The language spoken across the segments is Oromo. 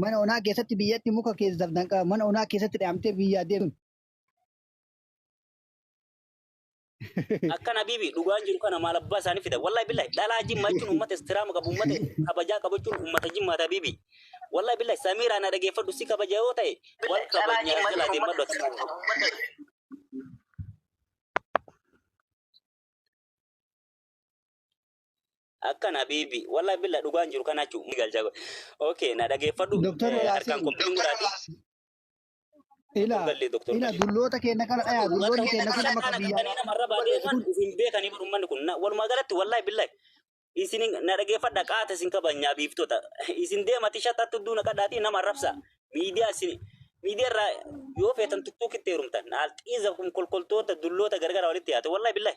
mana onaa keessatti biyyatti muka keessaf danqaa mana onaa keessatti dhaamtee biyyaa deemuun Akkan Habibi dhugaan jiru kana maal abbaa isaanii fida. Wallahi billahi dhalaa jimmaa jechuun uummata istiraama qabu uummata kabajaa qabu jechuun uummata jimmaata Habibi. Wallahi billahi Samiiraa na dhageeffadhu si kabaja yoo ta'e wal kabajnee as jalaa deemadhu ati. Akkan habiibi wallahi billa dhugaan jiru kana jechuun ni galcha. Okay na dhageeffadhu Doktar eh, harkaan Yaasiin kompiin godhaati. ila Gallee doktor ila Gallee. dulloota keenya kana dhaya Dulloota dulloonni keenya keenya kun kana amma kan biyyaa qabatanii nama irra baatee balleessu man kun isin beekanii bar ummanni kun Na- walumaa galatti wallahi billahi isin na dhageeffadha qaata isin kabajnaa biiftota isin deemati shatattu duuna qadhaatii nama arrabsa miidiyaa isin miidiyaa irraa yoo feetan tuttuukitti heerumtan alxiiza kun kolkoltoota dulloota gargara walitti yaate wallahi billahi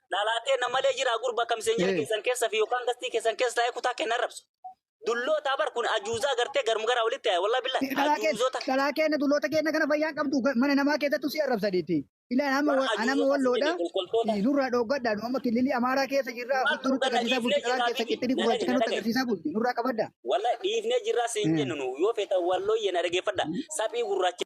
Dhalaatee na malee jiraa gurba akka miseenjera Ee. keessan keessa fi yookaan gastii keessan keessa taa'ee kutaa kenna rabsu. Dullootaa bar kun ajuuzaa gartee garmu garaa walitti taa'e wallahi billahi Dhalaa kee- ajuuzota. dhalaa keenya dulloota keenya kana fayyaan qabdu ga- mana namaa keessattu si arrabsaniiti. Ilaan amma Waan wa- anama ajuuzota walloodha. sirrii kolkoltoota. Eh, Nurraa dhooggadha. Nu amma kililii Amaaraa keessa jirra. Waan Bulti nutti agarsiisaa dhooggadha, bulti. dhiifnee Dhalaa keessa jirra, qixxini miti. gurraacha kan nutti Nagadi, agarsiisaa bulti. Nurraa qabadda. Wallahi dhiifnee jirraa siin Mm. jennu nu yoo feetan wallooyyee na dhageeffadha saphii gurraacha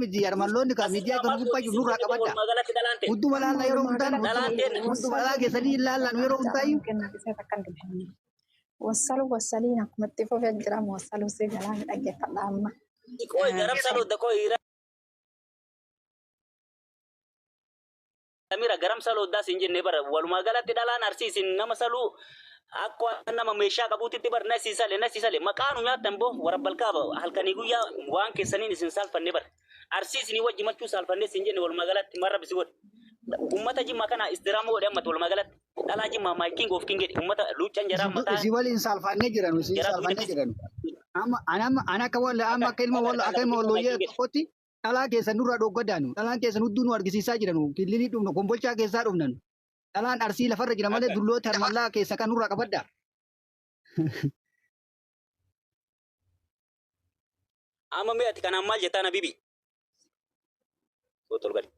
miti yarmalloonni kan miidiyaa kan gubbaa jiru nurraa qabadda. Hunduma laalla yeroo hundaan hunduma laalla keessanii hin laallan yeroo hundaayyuu. Wassalu wassaliin akkuma itti fufee jira wassalu si jalaa ni dhaggeeffadha amma. Xiqoo itti arabsa dhodda koo samira garam saloo das hin jenne bara walumaa galatti dhalaan arsii isin nama saluu akka waan nama meeshaa qabuutitti bar nasi sale nasi sale maqaa nu nyaattan boo warabbalkaa halkanii guyyaa waan keessaniin isin saalfanne bar arsii isinii wajji machuu saalfanne isin jenne walumaa galatti marra bisi godhe ummata jimmaa kana istiraama godhe ammatti walumaa galatti dhalaa jimmaa maayikiin goof king jedhe ummata luuccan jaraa mataa Isin waliin saalfannee jiranu, isin jaraa saalfannee duwidatti jiranu. Amma an amma an akka walla amma akka ilma walla akka ilma wallooyyee tokkotti dhalaa keessan nurraa dhoggadaanu dhalaan keessan hudduu nu argisiisaa jiranu killilii dhufna kombolchaa keessaa dhufnan dhalaan arsii lafarra jira malee dulloota harmallaa keessa kan nurraa qabadda. Amma mee ati kanaan maal jettaan Habibi? Soo tolgali.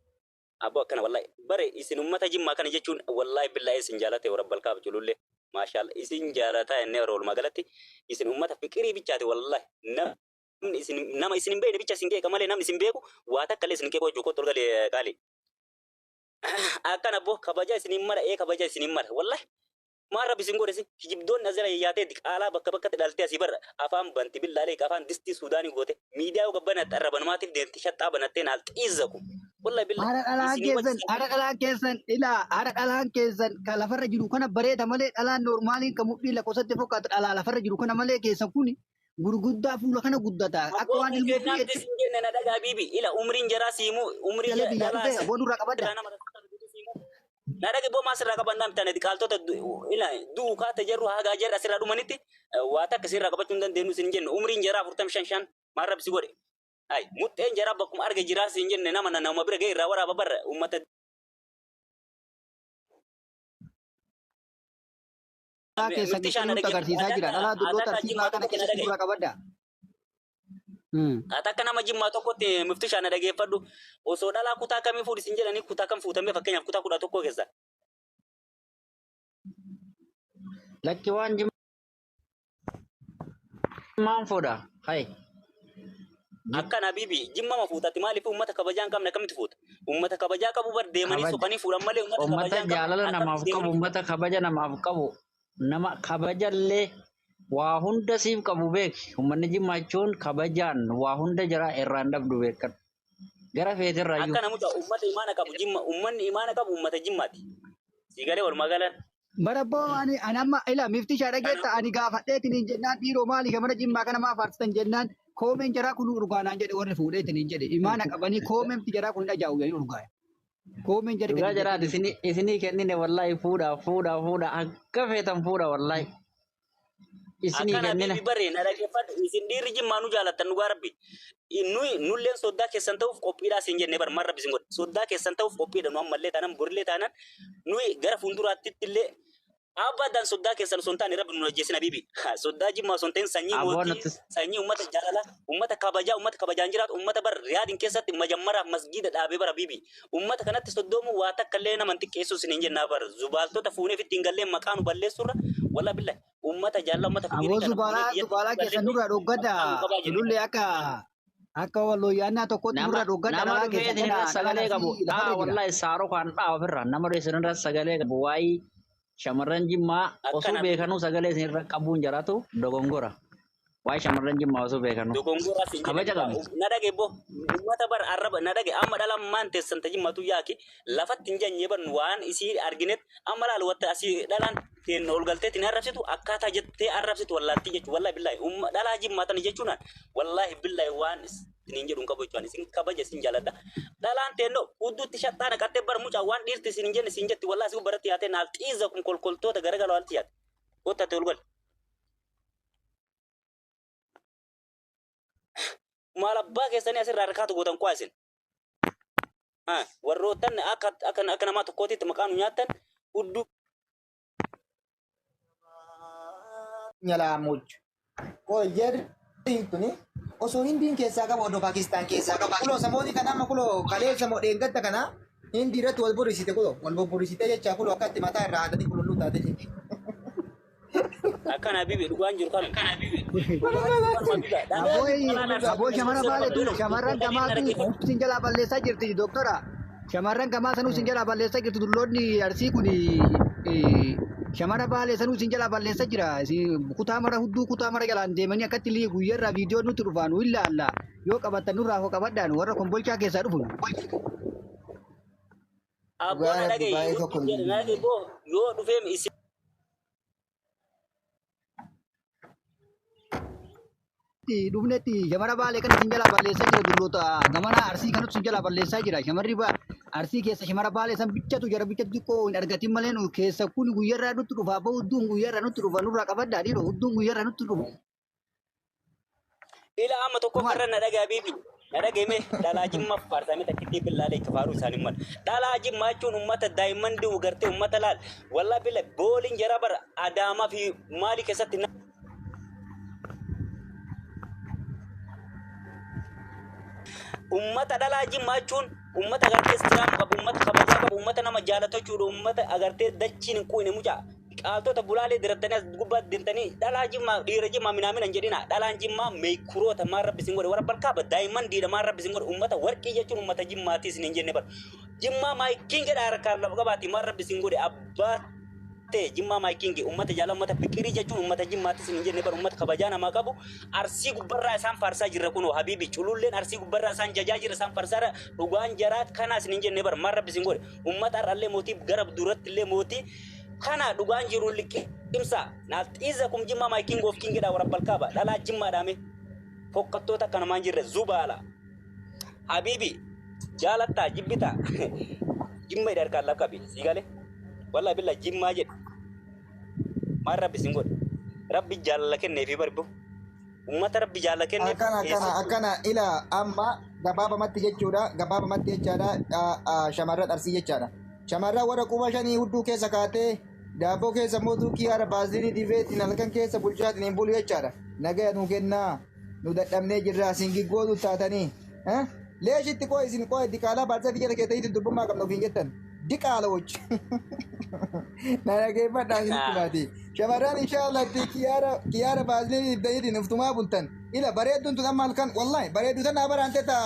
Abboo akkana wallahi bare isin ummata jimmaa kana jechuun wallahi billahi isin jaalate warabbal kaaf julullee maashaalla isin jaalataa inni yeroo walumaa galatti isin ummata fiqirii bichaati wallahi nama Namni isin nama isin hin beekne bicha isin qeeqa malee namni isin beeku waa takka illee isin qeequu hojjuu kottu olgali qaali. Akkan abboo kabaja isin hin mala ee kabaja isin hin mala wallahi. Maal rabbi isin godhe isin kijibdoonni as jala yayyaatee diqaalaa bakka bakkatti dhaltee asii barra afaan banti billaalee afaan distii suudaanii goote miidiyaa yoo gabbanatte arra banumaatiif deemti shaxxaa banattee naal xiizzaku. Wallahi billahi Haadha dhalaan isin wajji keessan, isin haadha dhalaan keessan ilaa haadha dhalaan keessan kan lafarra jiru kana bareeda malee dhalaan normaaliin kan mudhii lakkoofsatti fakkaatu dhalaa lafarra jiru kana malee keessan kuni gurguddaa fuula kana guddataa akka Aboo waan kun ilmoo kennaaf fuudheetti jechuun jenne na dhagaa biibi. Ila umriin jaraa siimuu umrii galee biyyaa dhalaa dhufee aboo nurraa qabadda. irraa nama rakkata biibi siimuu. Na dhagi boo maas irraa qabannaa mitaan ati qaaltota du- ila du'u kaata jarru hagaa jarri asirraa dhumanitti eh, waa takka sirraa qabachuu hin dandeenyu sin jenne umriin jaraa afurtam shan shan maal rabbi si godhe. Ay muxxeen jaraa bakkuma arge jiraa sin jenne nama na nama bira ga'e irraa waraaba barra uummata Haa keessan Nutti shaan nutti agarsiisaa jira. Dhalaa dulloo tartiibaa kana keessa suuraa qabadda. Ati akka nama jimmaa tokkotti mufti shaana dhageeffadhu osoo dhalaa kutaa kamii fuudhi sin jedhanii kutaa kam fuutamee fakkeenyaaf kutaa kudha tokkoo keessa. Lakki waan jimmaan fuudha. Hayi. Akkan Habibi jimmama fuutati maaliif uummata kabajaa hin qabne akkamitti fuuta? Uummata kabajaa qabu bar deemanii Kabaja. soqanii fuudhan malee uummata Uummata kabajaa hin qabne jaalala akkamitti namaaf qabu, deemanii uummata kabaja namaaf qabu, nama kabajallee waa hunda siif qabu beeki. Uummanni Jimmaa jechuun kabajaan waa hunda jira irraa hin dhabdu beekadhu. Gara feeterraayyuu. Akka namuta uummata imaana qabu jimma uummanni imaana qabu uummata jimmaati. Siigalee walumaa galan Barabboo ani ani amma ila mifti ishaa dhageetta ani gaafadheetiin hin jennaan dhiiroo maali shamara jimmaa kana maa faarsitan jennaan koomeen jaraa kun urgaa naan jedhe warri fuudheetiin hin jedhe imaana qabanii koomemti jaraa kun hin ajaa'u jedhanii urgaa koomeen jari Dhugaa gadi jiraati jettanii isinii isinii kennine wallahi fuudha fuudha fuudha akka feetan fuudha wallahi. Isinii Akkana kennina. bibi baree na dhaggeeffadhu isin dhiirri jimmaa nu jaalattan dhugaa rabbi. Nuyi nulleen soddaa keessan ta'uuf qophiidhaa siin jennee bar maal rabbi siin godhe. Soddaa keessan ta'uuf qophiidha nu ammallee taanaan borillee taanaan nuyi gara fuulduraattitti illee abadan soddaa keessan osoo hin taane rabbi nu ajjeesin habibi. Soddaa jimmaa osoo hin ta'in sanyii Aboo mootii nutis. sanyii ummata jaalala ummata kabajaa ummata kabajaan jiraatu ummata bar riyaadin keessatti majammaraaf masgiida dhaabee bara bibi. Uummata kanatti soddoomuun waa takka illee nama hin xiqqeessuu isiniin jenna abar. Zubaaltota fuunee ofitti hin galleen maqaa nu balleessuurra walaa billa uummata jaallaa uummata Aboo figirii kana fuunee zubaalaa biyyatti zubaalaa hin keessan galletti nurraa dhoggadha. maqaa nu qabaa jennee Tulullee akka akka wallooyyaannaa tokkotti nama nurraa dhoggadha nama dhalaa dhufee keessan isin irra kana dhalaa sagalee qabu asii lafarra dhaa jira. wallahi saaroo kan dhaa ofirra nama dhufee isin irra sagalee qabu waayii Shamarran Jimmaa osuu Akkana beekanuu sagalee isin irra qabuun jaratu dogongora. Waa'ee shamarran Jimmaa osuu beekanuu. dogongora sin jedhe Kabaja qabna. na dhage bo ummata bar arraba na dhage amma dhala maan teessan ta jimmatu yaaki lafatti hin janye ban waan isii arginet amma laal watta asii dhalaan teen ol galtee tin arrabsitu akkaataa jettee arrabsitu wallaaltii jechu wallahi billahi umma dhalaa jimmaatan jechuunaan wallahi billahi waan is- isiniin jedhu hin qabu jechuudha. Isin kabaja isin jaaladha. Dhalaan teennoo hudduutti shaxxaa naqattee bara mucaa waan dhiirti isin hin jenne isin jetti wallaahi isin baratti yaatee naaf xiiza kun kolkoltoota garagala waalti yaate. Gotta ati ol gali. Maal abbaa keessanii asirraa harkaatu gootan qo'a isin. Haa, Warroottan akka akka akka namaa tokkootitti maqaa nu nyaattan hudduu nyalaa mochu. Koi jer tuni osoo hindiin keessaa qabu odoo Paakistaan keessaa qabu. Kuloo samooti kana amma kuloo kaleessa moo dheengadda kana hindi irratti wal borrisite kuloo wal bobborrisite jecha kuloo akkatti mataa irraa haadanii qululluu taate jechuudha. Akkan Habibi dhugaan jiru kan. Aboo shamarran maalitu shamarran gamaatu sin jalaa balleessaa jirti doktora. Shamarran gamaa sanuu isin jalaa balleessaa jirtu dulloonni arsii kun shamara baalee sanuu isin jalaa balleessaa jira. Isin kutaa mara hudduu kutaa mara jalaan deemanii akkatti lii guyyarraa viidiyoo nutti dhufaa nu ilaalla. Yoo qabattan nurraa hoo qabadhaan warra kombolchaa keessaa dhufu. Abboo na Dhugaa dhaga'i. baay'ee tokko hin Jedhe na dhaga'e boo yoo dhufeem isin. dhufnetti shamara baalee kan isin jalaa balleessaa jira dulloota gamana arsii kan isin jalaa balleessaa jira shamarri ba arsii keessa shamara baalee san bichatu jara bichatu xiqqoo hin argatin malee nu keessa kun guyyarraa nutti dhufa abba hudduun guyyarraa nutti dhufa nurraa qabaddaa dhiiroo hudduun guyyarraa nutti dhufa. Ila amma tokko Maal? farra na dhagaa biibi. Na dhageme dhalaa jimma faarsamee takkitti billaalee itti faaruu isaanii mala. Dhalaa jimma jechuun uummata daa'imman di'u gartee uummata laal. Wallaa billa booliin jara bara adaamaa fi maali keessatti na. Uummata dhalaa jimma jechuun uummata agartee istiraama qabu, uummata kabajaa qabu, uummata nama jaalatu jechuudha, uummata agartee dachiin hin quine mucaa. Qaaltota gulaalee dirattanii as gubbaatti dintanii dhalaa jimmaa dhiira jimmaa minaamina hin jedhina dhalaan jimmaa meekuroota maal rabbi isin godhe warra balkaaba daa'imman diida maal rabbi isin godhe ummata warqii jechuun ummata jimmaati isin hin jenne bar jimmaa maayikiin jedha harkaan lafa qabaati maal rabbi isin godhe abbaa ta'e jimmaa maayikiin jedhe ummata jaala ummata fiqirii jechuun ummata jimmaati isin hin jenne bar ummata kabajaa namaa qabu arsii gubbarraa isaan faarsaa jirra kunoo habiibi cululleen arsii gubbarraa isaan jajaa jirra isaan farsaara dhugaan jaraa kanaa isin hin jenne bar maal rabbi isin godhe ummata har'allee mootii gara duratti illee mootii Kana dhugaan jiru liqimsa. Nafxiiza kum jimmaa my king of king dha warabbal kaaba. Dhalaa jimmaa dhaame. Fokkattoota akka namaan jirre zubaala. Habibi jaalattaa jibbita. Jimma idha harkaan lakkabi. Sii gale. Wallahi billa jimmaa jedhe. Maal rabbi sin godhe. Rabbi jaalala kenneefi barbu. Ummata Rabbi jaala kenneef akkana akkana keessattuu akkana ila amma gabaabamatti jechuudha gabaabamatti jechaadha a- a- shamarran arsii jechaadha shamarran warra quba shanii hudduu keessa kaatee daabboo keessa immoo duukii haara baazilii dibeetiin halkan keessa bulchaatiin hin bulu jechaadha nagaya nuu kennaa nu dadhabnee jirra isin giggootu taatanii eh? leeshitti qoo isin qoo itti kaalaa baarsaa biyya keessatti dubbummaa qabna ofiin jettan diqaalochi. Na dhaggeeffadhaa isinitti baatee. Shamarran inshaallah itti kiyaara kiyaara baasnee ibdaniitiin uftumaa bultan. Ila bareedduun tun amma halkan wallahi bareeddu tana baraan teta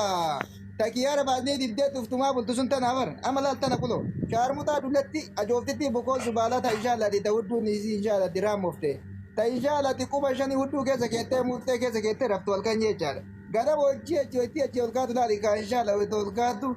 ta kiyaara baasnee ibdeetti uftumaa bultu sun tana bar amma laal tana kulo. Shaarmutaa dullatti ajooftitti bukoo zubaalaa ta inshaallah itti ta hudduu niisii inshaallah itti raamofte. Ta inshaallah itti quba shanii hudduu keessa keettee murtee keessa keettee raftu halkan jechaadha. Gara hojii hojii hojii hojii ol kaatu laali kaa inshaallah ol kaatu.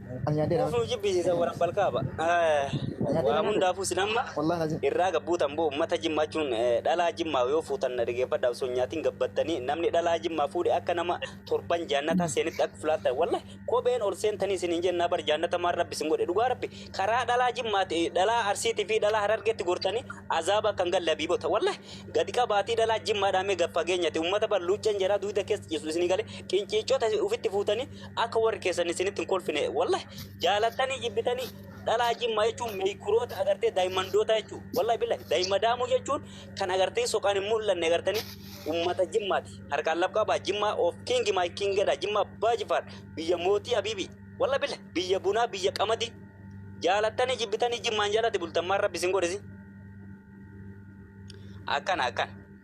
Ani nyaadhee dha. Ofuma jibbisiisan warra balkaaba. Waa hundaafuu sin amma Wallahi lazim. irraa gabbuutan boo uummata jimmaa jechuun eh, dhalaa jimmaa yoo fuutan na dhaggeeffadha osoo hin nyaatiin gabbattanii namni dhalaa jimmaa fuudhe akka nama torban jaannataa seenitti akka fulaattan wallahi kopheen ol seentanii isin hin jennaa bar jaannata maan rabbi isin godhe dhugaa rabbi karaa dhalaa jimmaati eh, dhalaa arsiitii fi dhalaa harargeetti gortanii azaaba akka hin galle habiibota wallahi gadi qabaatii dhalaa jimmaa dhaamee gad fageenyati uummata bar luucceen jaraa duuda keessa ciisu isinii galee qinciiccota ofitti fuutanii Akka warri keessan isinitti hin kolfine wallahi jaalattanii jibbitanii dhalaa jimmaa jechuun meekuroota agartee daa'immandoota jechuun wallahi billa daa'imma daamuu jechuun kan agartee soqaan hin mul'anne agartanii ummata jimmaati harkaan laf qabaa jimmaa of kiingi maay kiingedha jimmaa abbaa jifaar biyya mootii abiibii wallahi billa biyya bunaa biyya qamadii jaalattanii jibbitanii jimmaan jalatti bultammaan rabbi isin godhisi akkana akkana.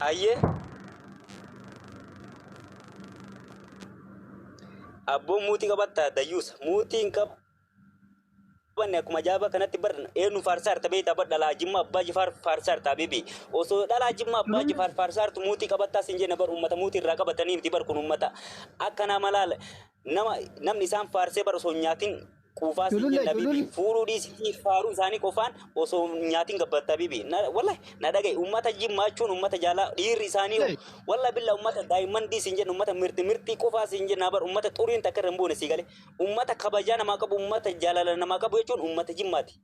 Hayyee. Abboon muutii qabattaa dayyuusa. Muutii hin qabanne akkuma ajaa'ibaa kanatti bar eenyu faarsaa jirta beektaa bar dhalaa jimmaa abbaa jifaar faarsaa jirta habibi. Osoo dhalaa jimmaa abbaa jifaar faarsaa jirtu muutii qabattaa sin jenna bar uummata muutii irraa qabatanii miti bar kun uummata akkanaa malaala nama namni isaan faarsee bar osoo hin nyaatin Quufaa siin Culullee, jenna bibi. culullee. Fuudhuu dhiisitii faaruu isaanii qofaan osoo hin nyaatiin gabbatta bibi. Na, wallahi na dhaga'i. Uummata jimmaa jechuun uummata jaalaa dhiirri isaanii hoo. Hey. Wallahi billa uummata daayimmandii siin jenna uummata mirti mirtii qofaa siin jenna bar uummata xuriin takka irra hin buune sii galee. Uummata kabajaa namaa qabu uummata jaalala namaa qabu jechuun uummata jimmaati.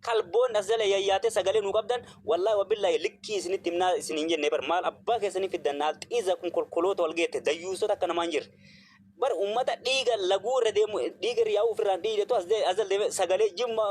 kalboon as jala yayyaatee sagalee nuu qabdan wallahi wabillahi likkii isinitti himnaa isin hin jenne bar maal abbaa keessanii fiddan naal xiiza kun kolkoloota wal geette dayyuusota akka namaa hin jirre bar ummata dhiiga laguu irra deemu dhiiga irra yaa'uu ofirraan dhiidetu as de- as jala deemee sagalee jimma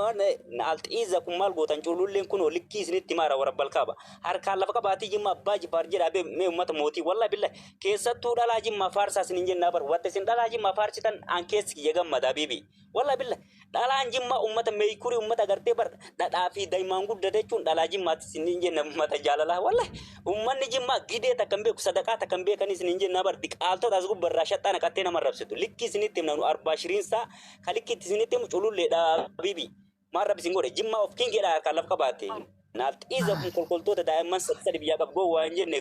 naal xiiza kun maal gootan cuululleen kun likkii isinitti himaara warra balkaaba harkaan lafa qabaatii jimma abbaa jifaar jedhaa bee mee ummata mootii wallahi billahi keessattuu dhalaa jimmaa faarsaa isin hin jennaa bar watta isin dhalaa jimmaa faarsitan aan keessi kiyya gammadaa biibii Wallah billa dhalaan jimmaa ummata meeykurii ummata gartee bar dhadhaa fi daimaan guddate jechuun dhalaa jimmaatti isin hin jenna ummata jaalalaa wallah ummanni jimmaa gidee takka hin beeku sadaqaa takka hin beekanii isin hin jenna bar diqaaltota as gubba irraa shaxxaa naqattee nama rabsitu likkii isinitti himna nu arbaa shiriinsaa ka likkiitti isinitti himu culullee dhaabibi maal rabbi isin godhe jimmaa of kingeedha harkaan laf qabaate naaf xiiza kun kolkoltoota daa'imman sadii biyyaa qab gowwaa hin jenne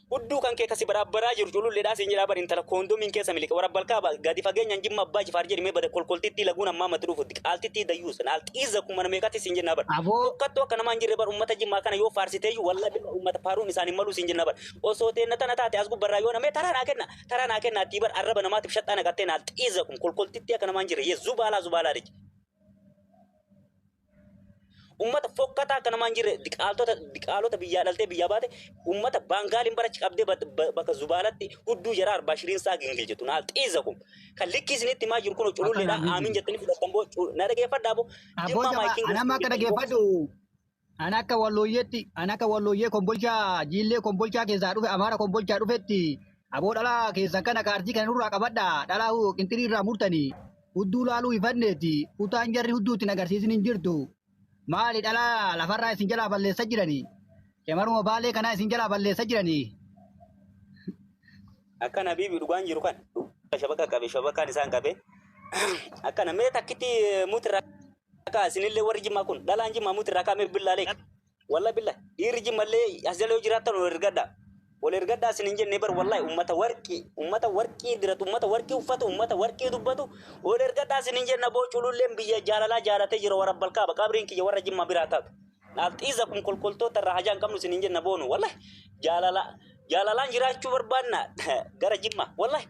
Udduu kan kee ka si baraabbaraa jiru cululleedhaa siin jedhaa bar intala koondomiin keessa miliqe wara balkaa ba gadi fageenyaan jimma abbaa jifaar jedhi mee bada kolkoltittii laguun ammaa matti dhufutti qaaltittii dayyuus naal xiizza kun mana meeqatti siin jennaa bar Aboo fokkattuu akka namaa hin jirre bar ummata jimmaa kana yoo faarsiteeyyu wallahi billah ummata faaruun isaan hin maluu siin jennaa bar osoo teenna tana taate as gubbarraa yoona mee taraa naa kenna taraa naa kenna attii bar arraba namaatiif shaxxaa naqattee naal xiizza kun kolkoltittii akka namaa hin jirre yee zubaalaa zubaalaa lij Ummata fokkataa akka namaan jirre diqaaltota diqaalota biyyaa dhaltee biyyaa baate ummata baangaaliin barachi qabdee bakka zubaalatti hudduu jaraa arbaa shiriin saa gingil jettu naal xiiza kun kan likkii isinitti himaa jiru kun cululleedhaan aamiin jettanii fudhattan boo na dhageeffadhaa boo jimmaa maayikiin Anamma akka dhageeffadhu an akka wallooyyeetti an akka wallooyyee kombolchaa jiillee kombolchaa keessaa dhufe amaara kombolchaa dhufetti aboo dhalaa keessan kana kaartii kana nurraa qabadha dhalaa qinxirii irraa murtanii hudduu laaluu hifanneeti kutaan jarri hudduu ittiin agarsiisin hin jirtu maali dhalaa lafarraa isin jalaa balleessa jiranii shamaruma baalee kanaa isin jalaa balleessa jiranii Akkan Habiibi dhugaan jiru kan shabaqa qabe shabaqaan isaan qabe akkana mee takkitti mutirraa ka'a isinillee warri jimmaa kun dhalaan jimmaa mutirraa ka'a mee billaalee Wallahi billah dhiirri jimmallee as jala yoo jiraattan ol ergadha. Ol ergadha isin hin jenne bar wallahi ummata warqii ummata warqii diratu ummata warqii uffatu ummata warqii dubbatu ol ergadha isin hin jenna boo cululleen biyya jaalalaa jaalatee jira warra balkaaba qabriin kiyya warra jimmaa biraa taatu. Naaf xiiza kun kolkoltoota irraa hajaa hin qabnu isin hin jenna boonu wallahi jaalala Jaalalaan jiraachuu barbaannaa gara jimma. Wallahi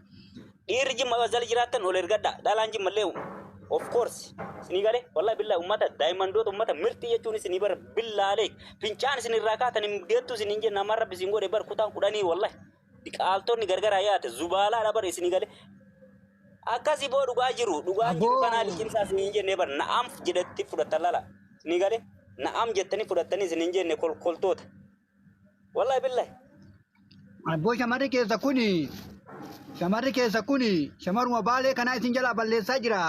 dhiirri jimma yoo jala jiraattan ol ergadhaa. Dhalaan jimma illee of course isinii galee wallahi billaa ummata daayimandoota ummata mirxii jechuun isinii bara billaalee fincaan isin irraa kaatan hin deettu isin hin jenna amma rabbi isin godhe bar kutaan kudhanii wallahi diqaaltonni gargaraa yaate zubaalaa dha bara isinii galee. Akkasii boo dhugaa jiru dhugaan jiru Aboo. kanaa liqimsaa isin hin jenne bar na'am jedhetti fudhattan lala isinii galee na'am jettanii fudhattanii isin hin jenne kolkoltoota. Wallahi billahi. Abboo shamarri keessa kuni shamarri keessa kuni shamaruma baalee kanaa isin jalaa balleessaa jira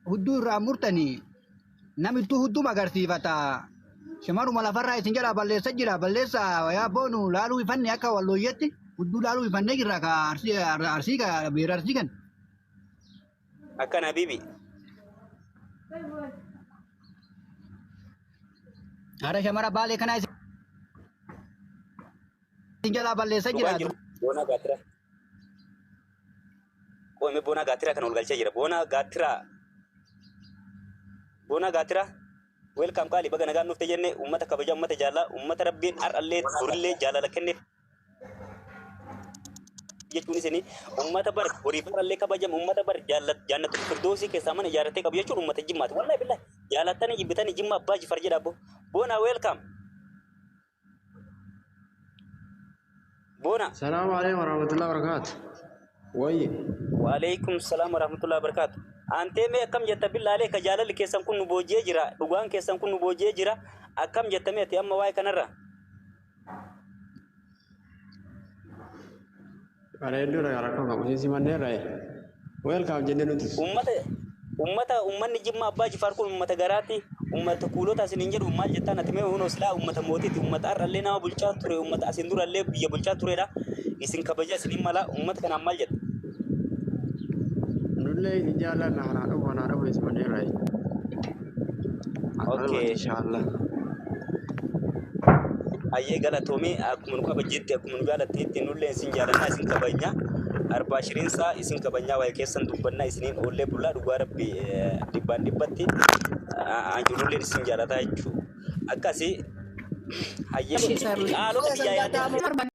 hudduu irraa murtanii namittuu hudduma agarsiifata shamaruma lafarraa isin jalaa balleessa jira balleessa wayaa boonu laaluu ifanne akka wallooyyetti hudduu laaluu ifannee jirra ka arsii arsii ka beera arsii kan Akkan habibi. Haadha shamara baalee kanaa isin jalaa balleessa Dhugaan jiraatu. jiru boonaa gaatira. Qoome boonaa gaatira kan ol galchaa jira. Boonaa gaatira. Boonaa gaatira. Welcome qaali baga nagaan dhufte jenne uummata kabaja uummata jaallaa uummata rabbiin har'allee borillee jaalala kenneef jechuun isin ummata bar horii barallee kabajamu ummata bar jaannatu firdoosii keessaa mana ijaarratee qabu jechuun ummata jimmaati wallahi billahi jaalattanii jibbitanii jimma abbaa jifar jedha abbo boona welcome boona Salaamu alaikum warahmatullahi wabarakaatu. Wayye. waaleykum salaam warahmatullahi wabarakaatu antee mee akkam jetta billaalee ka jaalalli keessan kun nu booji'ee jira dhugaan keessan kun nu booji'ee jira akkam jettamee ati amma waa'ee kanarra Bareedduu irraa rakkoo qabu. Isin simannee irraa ee. Weelkaam jennee nutis. Ummata ummata ummanni Jimma Abbaa Jifaar kun ummata garaati. Ummata kuulota asin hin jedhu maal jettaan ati mee hunoo silaa ummata mootiiti. Ummata har'allee nama bulchaa ture ummata asin durallee biyya bulchaa turedha. Isin kabaja isin hin mala ummata kanaan maal jetta? Nullee isin jaallanna kanaa dhufu kanaa dhufu isin simannee irraa ee. Okay. inshallah Ayyee galatoomii akkuma nu kabajjetti akkuma nu jaalatteetti nullee isin jaalannaa isin kabajna. Arbaa shiriinsaa isin kabajnaa waa'ee keessan dubbannaa isiniin oollee bulaa dhugaa rabbi eh, dhibbaan dhibbatti anjululleen isin jaalataa jechuudha. Akkasii hayyee Ishii saaruu. haalota biyyaa yaadee.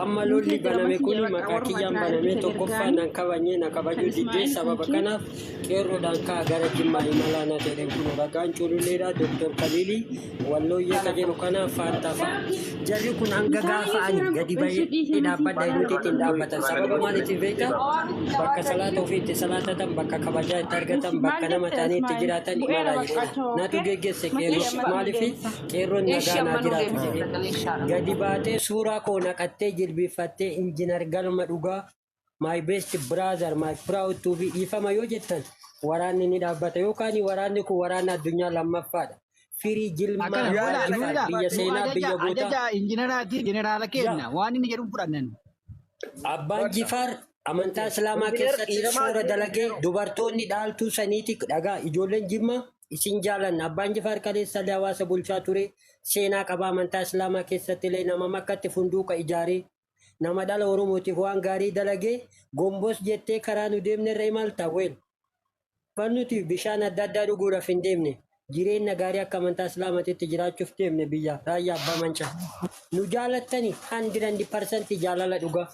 Amma lolli baname kun maqaa kiyyaan baname tokkoffaa nan kabajne na kabajuu diddee sababa kanaaf qeerroodhaan ka'a gara jimmaa imalaa na jedhe kun ragaan cululleedha Dooktor Kaliilii wallooyyee ka jedhu kana faantaa fa'a. Jarri kun hanga gaafa ani gadi bahee dhaabbadha nuti ittiin dhaabbatan sababa maaliitiin beektaa? Bakka salaata ofii itti salaatatan bakka kabajaa itti argatan bakka nama ta'anii itti jiraatan imalaa jechuudha. Natu geggeesse qeerroo maaliifi? Qeerroon Eeshi nagaa naa ammanuu jiraatu deebisee jedhee galagalee shaadha. gadi baatee suuraa koo naqattee jilbiiffattee injinar galma dhugaa my best brother my proud to be dhiifama yoo jettan waraanni ni dhaabbata yookaan waraanni kun waraanni addunyaa lammaffaadha firii jilmaa Akkana Yaa duula Yaa duula biyya nu seenaa ajaja biyya gootaa ajaja injineraati jeneraala yaa keenna waan inni jedhu fudhannan. Abbaan Bakka. Jifaar amantaa Islaamaa Injinar keessatti dhiiramaa shoora jiru dalagee jiru. dubartoonni dhaaltuu saniiti dhagaa ijoolleen jimmaa Isin jaalanna. Abbaan Jifaar kaleessa illee hawaasa bulchaa ture. Seenaa qabaa amantaa Islaamaa keessatti illee nama makkatti funduuqa ijaaree nama dhala Oromootiif waan gaarii dalagee gombos jettee karaa nu deemne irra imalta weel. Kan nuti bishaan adda addaa dhuguudhaaf hin deemne jireenna gaarii akka amantaa Islaamatitti jiraachuuf deemne biyya raayyaa abbaa mancaa. Nu jaalattani 100% jaalala dhugaa.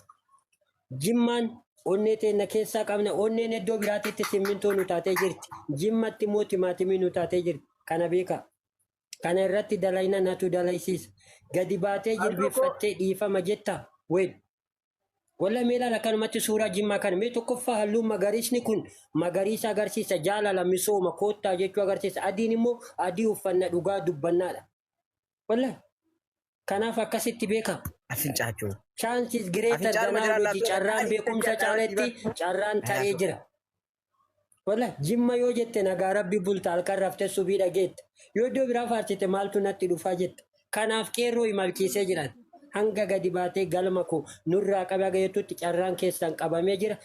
Jimmaan onnee teenna keessaa qabna. Onneen iddoo biraatitti simmintoo nu taatee jirti. Jimmatti immoo timaatimii nu taatee jirti. Kana beekaa. Kana irratti dalayna natu dalaysiisa. Gadi baatee Harka koo jilbiiffattee dhiifama jettaa? Weel. Walla mee ilaala akkanumatti suuraa jimmaa kana. Mee tokkoffaa halluun magariisni kun magariisa agarsiisa. Jaalala, misooma, koottaa jechuu agarsiisa. Adiin immoo adii uffanna dhugaa dubbannaadha. Wallahi. Kanaaf akkasitti beeka. Afincaa jechuu. Chance is greater Afincaa than dhuma jira knowledge. laafee Carraan kan beekumsa afincaa caaletti jira. carraan taree Kanaaf- jira. Wallahi jimma yoo jette nagaa rabbi bulta halkan raftee subii dhageetta. Yoo iddoo biraa faarsite maaltu natti dhufaa jetta. Kanaaf qeerroo imalchiisee jiran. Hanga gadi baatee galma koo nurraa qabe haga jettutti carraan keessan qabamee jira.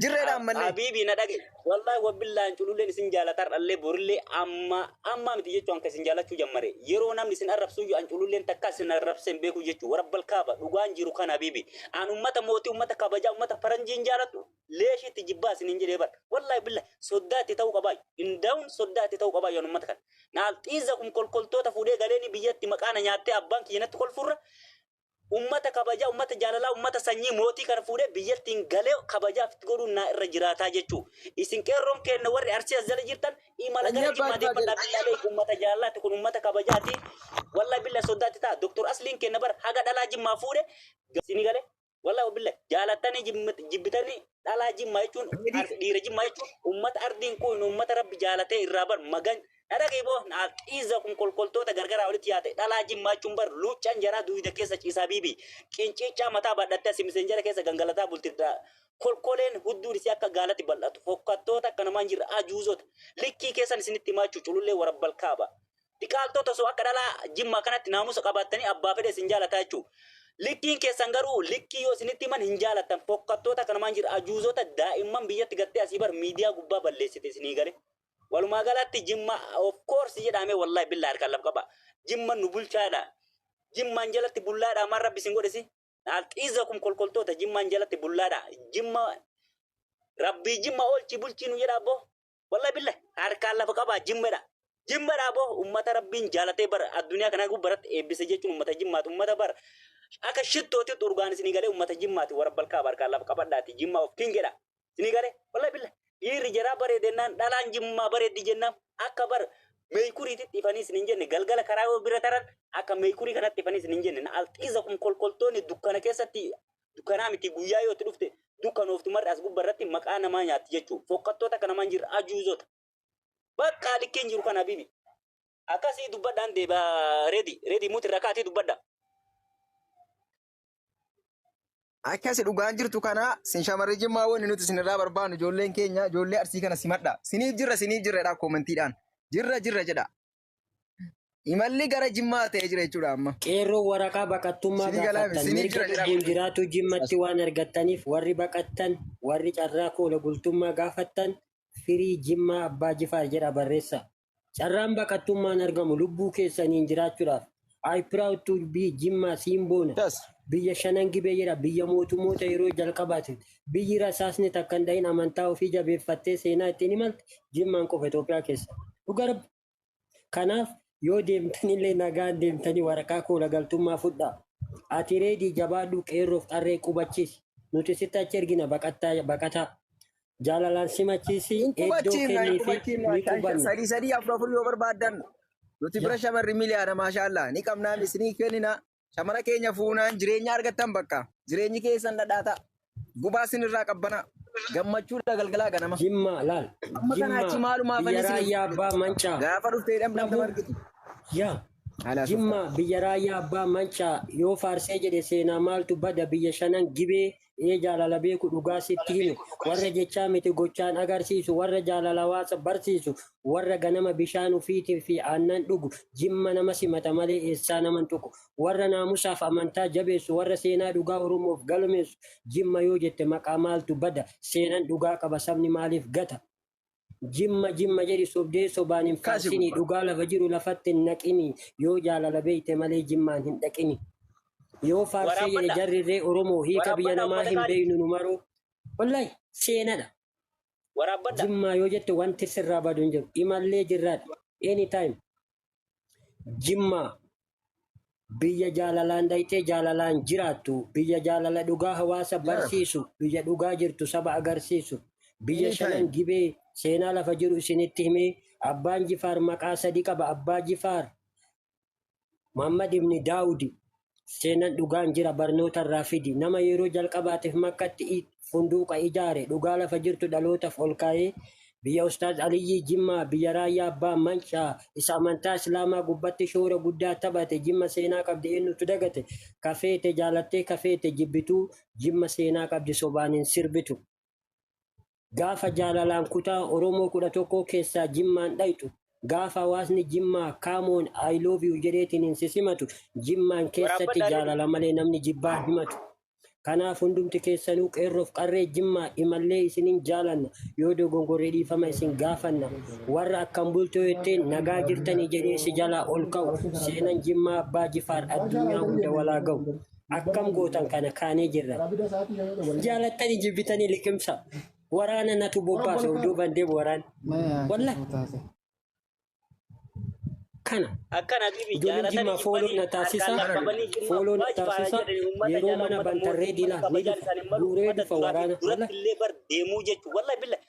Jirreedha ammallee. Habiibii na dhage. Wallahi wabbillaan cululleen isin jaalatar dhallee borillee amma amma miti jechuun akka isin jaalachuu jammare. Yeroo namni isin arrabsuu iyyuu an cululleen takka isin arrabseen beekuu jechuu warabbal kaaba dhugaan jiru kan habiibi. An ummata mootii ummata kabajaa ummata faranjiin jaalattu leeshiitti jibbaa isiniin jedhee bar. Wallahi billahi soddaa itti ta'uu qabaa. Indaa'uun soddaa itti ta'uu qabaa yoon ummata kan. Naal xiizza kun kolkoltoota fuudhee galeeni biyyatti maqaa na nyaattee abbaan kiyya natti kolfurra Ummata kabajaa, ummata jaalalaa, ummata sanyii mootii kana fuudhee biyyattiin galee kabajaa ofitti godhuun naa irra jiraataa jechuu. Isin qeerroon keenna warri Arsii as jala jirtan imala Sanyii gara abbaa Jimmaa ilmaa deeffadhaa. jedhe. Billahi ummata jaalalaati kun ummata kabajaati. Wallahi billahi soddaa itti ta'a. Doktor Asliin keenna bar haga dhalaa Jimmaa fuudhe. Isinii galee? Wallahi wabillahi. Jaalattanii jibmit- jibbitanii dhalaa jimmaa jechuun Ready. ar- dhiira jimmaa jechuun ummata ardiin quufne ummata rabbi jaalatee irraa bar magan dhadhagee boo naaf xiizza kun kolkoltoota gargaraa walitti yaate dhalaa jimmaa jechuun bar luuccaan jaraa duuyda keessa ciisaa biibi qinciichaa mataa badhattee asi miseenjara keessa gangalataa bultirdaa kolkoleen hudduun isii akka gaalatti bal'atu fokkattoota akka namaan jirra ajuuzota likkii keessan isinitti himaachuu culullee warabbal kaaba Dhiqaaltoota osoo akka dhalaa jimmaa kanatti naamusa qabaattanii abbaa fedhe isin jaalataa jechuu. Likkiin keessan garuu likkii yoo isinitti himan hin jaalattan fokkattoota kana maan jira ajuuzota daa'imman biyyatti gattee asii bar miidiyaa gubbaa balleessite isinii gale. Walumaa galaatti jimma of course jedhaamee wallahi billaa harkaan laf qaba. Jimman nu bulchaadha. Jimmaan jalatti bullaadha maan rabbi isin godhesi. Alxiizakum kolkoltoota jimmaan jalatti bullaadha. Jimma rabbii jimma oolchii bulchii nu jedha abboo. Wallahi billah harkaan lafa qabaa jimmadha. Jimmadha boo ummata rabbiin jaalatee bar addunyaa kanaa gubbaa irratti eebbise jechuun ummata jimmaati ummata bar akka shittootti urgaan isinii galee ummata jimmaati warra balkaa harkaan lafa qabadhaati jimmaa of kingedha isinii galee wallahi billah dhiirri jaraa bareedennaan dhalaan jimmaa bareeddi jennaan akka bar meekuriititti ifanii isiniin jenne galgala karaa yoo bira taran akka meekurii kanatti ifanii isiniin jenne na alxiiza kun kolkoltoonni dukkana keessatti dukkanaa miti guyyaa yoo itti dhufte dukkanooftu marri as gubba irratti maqaa namaa nyaatti jechuu fokkattoota akka namaan jirra ajuuzota baqqaa likkeen jiru kana bibi akkasii dubbadhaan deeba redi redi muti irra kaatii dubbadha Akkasi dhugaan jirtu kana sin shamarri jimmaa wanni nuti sinirraa barbaannu ijoolleen keenya ijoollee arsii kana simadha. Siniif jirra siniif jirra jedhaa koomentiidhaan. Jirra jirra jedha. Imalli gara Jimmaa ta'ee jira jechuudha amma. Qeerroo waraqaa baqattummaa Sini galaame, gaafattan sini mirga jira jira lubbuun kun. jiraatu jimmatti waan argattaniif warri baqattan warri carraa koola bultummaa gaafattan firii jimmaa abbaa jifaar jedha barreessa. Carraan baqattummaan argamu lubbuu keessaniin jiraachuudhaaf I proud to be Jimmaa Siimboona. Yes. Biyya shanan gibee jedha biyya mootummoota yeroo jalqabaati. Biyyi rasaasni takka hin dhahin amantaa ofii jabeeffattee seenaa ittiin imalte Jimmaan qofa Itoophiyaa keessa. Dhugaa rabbi. Kanaaf yoo deemtanillee nagaan deemtanii waraqaa koola galtummaa fudhaa. Ati reedii jabaadhuu qeerroof qarree qubachiisi. Nuti sitti achi ergina baqattaa baqataa. Jaalalaan simachiisi Hin eddoo qubachiifnu, hin kenniifi qubachiifnu. ni Shan- shan- qubanna. Sadii sadii afur afur yoo barbaaddan nuti bira Yaa. shamarri miliyaana maashaallah ni qabnaa isinii kennina. Shamara keenya fuunaan jireenya argattan bakka. Jireenyi keessan dhadhaa ta'a. Gubaa sinirraa qabbana. Gammachuudha galgalaa ganama. Jimmaa laal. Amma kana achi Jimmaa maalumaa biyya fannisni. raayyaa abbaa mancaa. Gaafa dhuftee dhamdhamdam Dhabuu. argitu. Yaa. Haala Jimmaa biyya raayyaa abbaa mancaa yoo faarsee jedhe seenaa maaltu bada biyya shanan gibee ee jaalala beeku dhugaa sitti himu warra jechaa miti gochaan agarsiisu warra jaalala hawaasa barsiisu warra ganama bishaan ufiitiin fi aannan dhugu jimma nama simata malee eessaa naman tuqu warra naamusaaf amantaa jabeessu warra seenaa dhugaa oromoof galmeessu jimma yoo jette maqaa maaltu bada seenan dhugaa qaba sabni maaliif gata Jimma jimma jedhi sobdee sobaan hin Kaasi faarsinii gubbaa. dhugaa lafa jiru lafatti hin naqinii yoo jaalala beeyte malee jimmaan hin dhaqinii. Yoo faarsee jedhe Waraabbadha. jarri irree Oromoo hiika biyya Waraabbadha namaa ummata hin gaarii. beeynu nu maroo. Wallahi seenadha. Waraabbadha. Jimmaa yoo jette wanti sirraa badu hin jiru. Imallee jirraadha. Anytime. Jimmaa biyya jaalalaan daytee jaalalaan jiraattu, biyya jaalala dhugaa hawaasa barsiisu, biyya dhugaa jirtu saba agarsiisu, biyya Anytime. shanan gibee seenaa lafa jiru isinitti himee, abbaan Jifaar maqaa sadi qaba, abbaa Jifaar Mahammad ibni Daawudi, Seenan dhugaan jira barnoota irraa fidi. Nama yeroo jalqabaatiif makkatti i- funduuqa ijaare dhugaa lafa jirtu dhalootaaf ol kaa'ee biyya Ustaaz Aliyyii Jimmaa, biyya Raayyaa Abbaa Mancaa isa amantaa Islaamaa gubbatti shoora guddaa taphate Jimma seenaa qabdi eenyutu dagate? Ka feete jaalattee ka feete jibbituu Jimma seenaa qabdi sobaan hin sirbitu. Gaafa jaalalaan kutaa Oromoo 11 keessaa Jimmaan dhayxu, gaafa hawaasni Jimmaa come on I love you jedheetiniin si simatu, Jimmaan keessatti jaalala malee namni jibbaa himatu. Kanaaf hundumti keessanuu qeerroof qarree Jimmaa imallee isinin jaalanna, yoo dogongorre dhiifama isin gaafanna. Warra akkam bultoo jetteen nagaa jirtanii jedhee si jalaa ol ka'u, seenan Jimmaa Abbaa Jifaar addunyaa hunda walaa ga'u. akkam gootan kana kaanee jirra. Jaalattanii jibbitanii liqimsa. Waraana natu bobbaase of duuban deemu waraan. Walla kana. Akkana bibi Ijoollee jimmaa fooloo na taasisa. Fooloo na taasisa. Yeroo mana bantarree diinaa ni dhufa. Guuree dhufa waraana. Walla illee bar deemuu jechuun walla billa